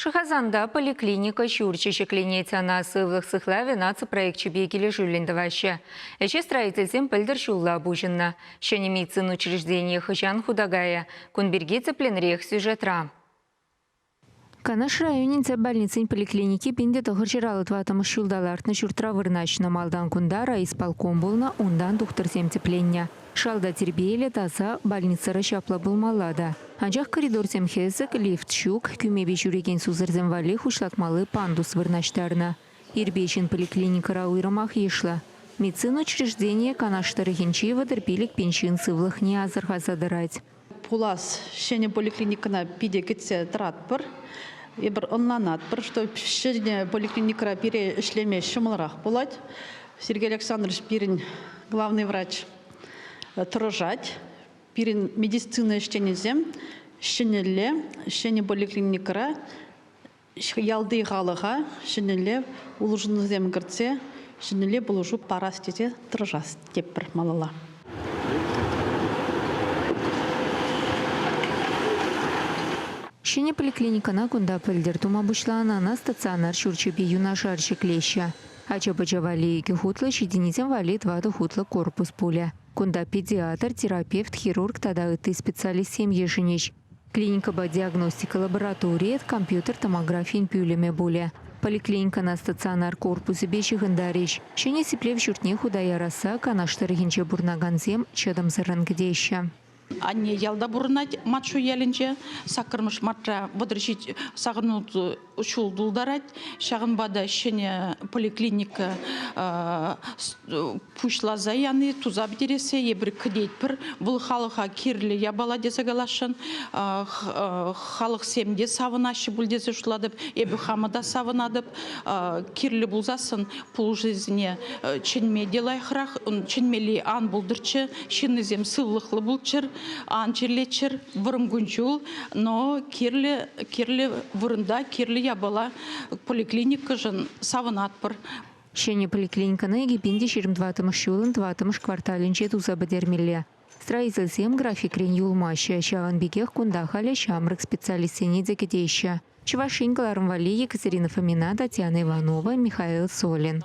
Шӑхасанта поликлиника ҫурчӗ ҫӗкленет. Ӑна сывлӑх сыхлавӗ наци проекчӗпе килӗшӳллӗн тӑваҫҫӗ. Ӗҫе строительсем пӗлтӗр ҫулла пуҫӑннӑ. Ҫӗнӗ медицина учрежденийӗ хӑҫан хута кайӗ? Кун пирки тӗплӗнрех сюжетра. Канаш районӗнчи больницин поликлиники пин те тӑхӑр ҫураллӑ тӑваттӑмӗш ҫулта лартнӑ ҫуртра вырнаҫнӑ. Малтан кунта райисполком пулнӑ, унтан тухтӑрсем тӗпленнӗ. Шалта тирпейлӗ таса больницӑра ҫапла пулмалла та. Анчах коридорсем хӗсӗк, лифт ҫук, кӳмепе ҫӳрекен сусӑрсем валли хуҫлатмалли пандус вырнаҫтарнӑ. Ирпе ҫын поликлиникӑра уйрӑмах йышлӑ. Медицина учрежденийӗ Канаш тӑрӑхӗнчи вӑтӑр пилӗк пин ҫын сывлӑхне асӑрхаса тӑрать. пулас ҫӗнӗ поликлиникӑна питӗ кӗтсе тӑратпӑр. Эпир ӑнланатпӑр, что ҫӗнӗ поликлиникӑра пире ӗҫлеме ҫӑмӑлрах пулать. Сергей Александрович пирӗн главный врач тӑрӑшать. Пирӗн медицина ӗҫченӗсем ҫӗнӗлле ҫӗнӗ поликлиникӑра Ялти халӑха ҫӗнӗлле улшӑнусем кӗртсе ҫӗнӗлле пулӑшу парас тесе тӑрӑшас тепӗр малалла. Ҫӗнӗ поликлиникӑна кунта пӗлтӗр тума пуҫланӑ ӑна стационар ҫурчӗпе юнашар ҫӗклеҫҫӗ. Ача-пӑча валли икӗ хутлӑ, ҫитӗннисем валли тӑватӑ хутлӑ корпус пулӗ. Кунта педиатр, терапевт, хирург тата ытти специалистсем йышӑнӗҫ. Клиникӑпа диагностика лабораторийӗ компьютер томографийӗн пӳлӗмӗ пулӗ. Поликлиникӑна стационар корпусӗпе ҫыхӑнтарӗҫ. Ҫӗнӗ сиплев ҫуртне хута ярасса Канаш тӑрӑхӗнче пурӑнакансем чӑтӑмсӑррӑн кӗтеҫҫӗ. Анне ялта пурӑнать, Матшу ялӗнче. Саккӑрмӗш мартра вӑтӑр ҫич сакӑрӑн ҫул тултарать. Ҫавӑнпа та ҫӗнӗ поликлиника пуҫласа яни туса пӗтерессе эпир кӗтетпӗр. Вӑл халӑха кирлӗ япала тесе каласшӑн. Халӑхсем те савӑнаҫҫӗ пуль тесе шутлатӑп. Эпӗ хамӑн та савӑнатӑп. Кирлӗ пулсассӑн пулӑшусене чӗнме те лайӑхрах. Чӗнмелли ан пултӑрччӗ. Ҫыннисем сывлӑхлӑ пулччӑр. Ан чирлеччӗр вӑрӑм кун-ҫул, но кирлӗ, кирлӗ вырӑнта, кирлӗ япала поликлиникӑшӑн савӑнатпӑр. Ҫӗнӗ поликлиникӑна Эпин те ҫирӗм тӑваттӑмӗш ҫулӑн тӑваттӑмӗш кварталӗнче туса пӗтермелле. Строительсем графикрен юлмаҫҫӗ, ҫавӑн пекех кунта халӗ ҫамрӑк специалистсене те кӗтеҫҫӗ. Чӑваш Ен кӑларӑм валли Екатерина Фомина, Татьяна Иванова, Михаил Солин.